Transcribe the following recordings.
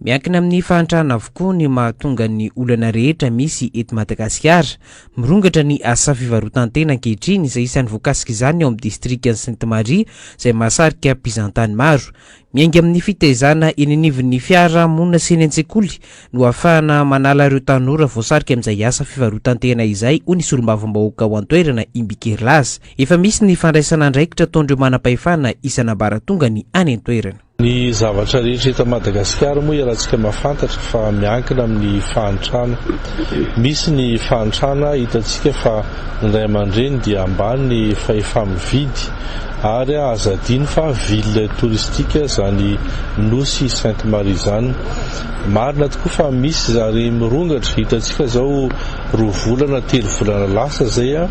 Miankina amin'ny fahantrana avokoa ny mahatonga ny olana rehetra misy eto Madagasikara. Mirongatra ny asa fivarotan-tena ankehitriny izay isan'ny voakasik'izany ao amin'ny distrikan'i Sainte Marie izay mahasarika mpizahantany maro. Miainga amin'ny fitaizana eny anivon'ny fiara monina sy eny an-tsekoly no ahafahana manala ireo tanora voasarika amin'izay asa fivarotan-tena izay hoy ny solombavambahoaka ao an-toerana Imbikerilaza. Efa misy ny fandraisana andraikitra ataon'ireo manam-pahefana isan'ambaratongany any an-toerana. Ny zavatra rehetra eto Madagasikara moa iarahantsika mahafantatra fa miankina amin'ny fahantrana. Misy ny fahantrana hitantsika fa ny ray aman-dreny dia ambany ny fahefa-mividy ary aza adino fa ville touristique izany nosy Sainte Marie izany. Marina tokoa fa misy zary mirongatra, hitantsika izao roa volana, telo volana lasa izay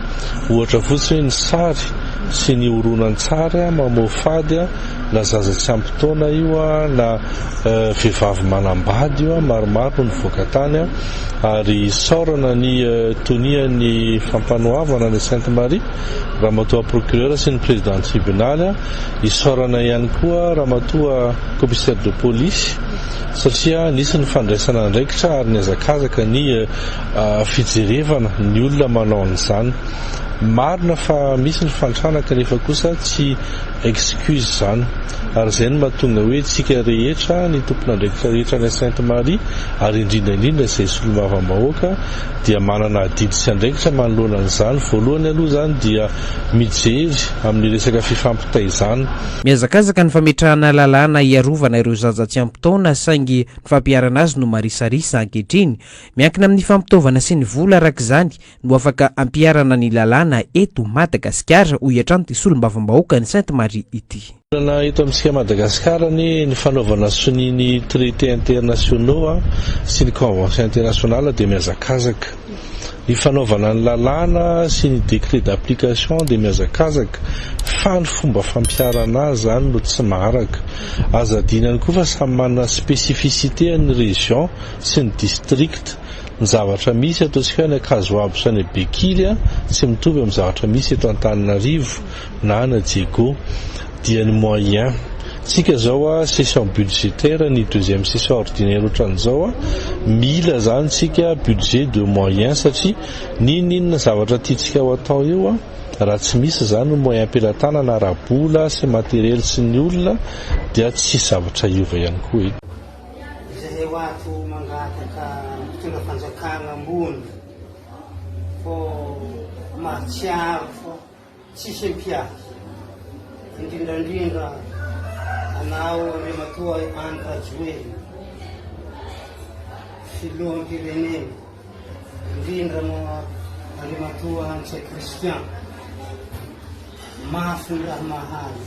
ohatra fotsiny hoe ny sary sy ny horonantsary mamoafady Na zaza tsy ampy taona io na vehivavy manambady io maromaro no nivoaka tany ary isaorana ny tonian'ny fampanoavana an'i Sainte Marie Ramatoa Procureur sy ny Président Tribunaly, isaorana ihany koa Ramatoa Commissaire de Police satria nisy ny fandraisana andraikitra ary nihazakazaka ny fijerevana ny olona manao an'izany. Marina fa misy ny fantrana kanefa kosa tsy Excuse izany. Ary izay no mahatonga hoe isika rehetra, ny tompon'andraikitra rehetra any Sainte Marie, ary indrindra indrindra izay solombavambahoaka, dia manana adidy sy andraikitra manoloana an'izany. Voalohany aloha izany dia mijery amin'ny resaka fifampitaizana. Mihazakazaka ny fametrahana lalàna hiarovana ireo zaza tsy ampy taona, saingy ny fampiharana azy no marisarisa ankehitriny. Miankina amin'ny fampitaovana sy ny vola araka izany no afaka ampiharana ny lalàna eto Madagasikara, hoy hatrany ity solombavambahoakan'i Sainte Marie ity. Lalana eto amintsika Madagasikara anie ny fanaovana sonia ny traités internationaux sy ny conventions internationales dia mihazakazaka. Ny fanaovana ny lalàna sy ny décrets d'application dia mihazakazaka fa ny fomba fampiharana azy izany no tsy maharaka. Aza adino ihany koa fa samy manana spécificité ny région sy ny district. Ny zavatra misy ataontsika hoe any Ankazoabo sy any Bekiry tsy mitovy amin'ny zavatra misy eto Antananarivo na any Diego. Dia ny moyen. Tsika izao session budgétaire ny deuxième session ordinaire ohatran'izao mila zany tsika budget de moyen satria n'inon'inona zavatra tiantsika ho atao eo raha tsy misy zany ny moyen am-pelatanana ara-bola sy materiel sy ny olona dia tsy hisy zavatra hiova ihany koa e. Izahay ho ato mangataka mpitondra fanjakana ambony fô mahatsiaro fô tsisy mpiady indrindrandrindra anao Andriamatoa Andry Rajoelina filoham-pirenena indrindra moa Andriamatoa Ntsay Christian mafy ny raha mahazo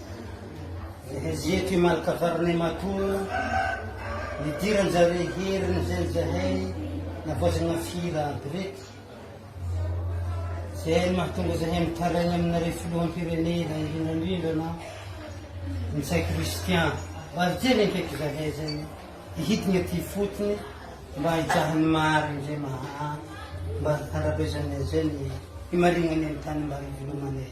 Eto i Malka faranay matoa nidiran zare heriny zay zahay navaozana fira aby reto. Zay no mahatonga zahay mitaraigna aminareo filoham-pirenena indrindra indrindra na Ntsay Christian. Mba hijery akeky zahay zay hihidigna aty fotony mba hijaha ny marigny zay maha mba harabezagnay zay ny himarignanay ny tany mba hivelomanay.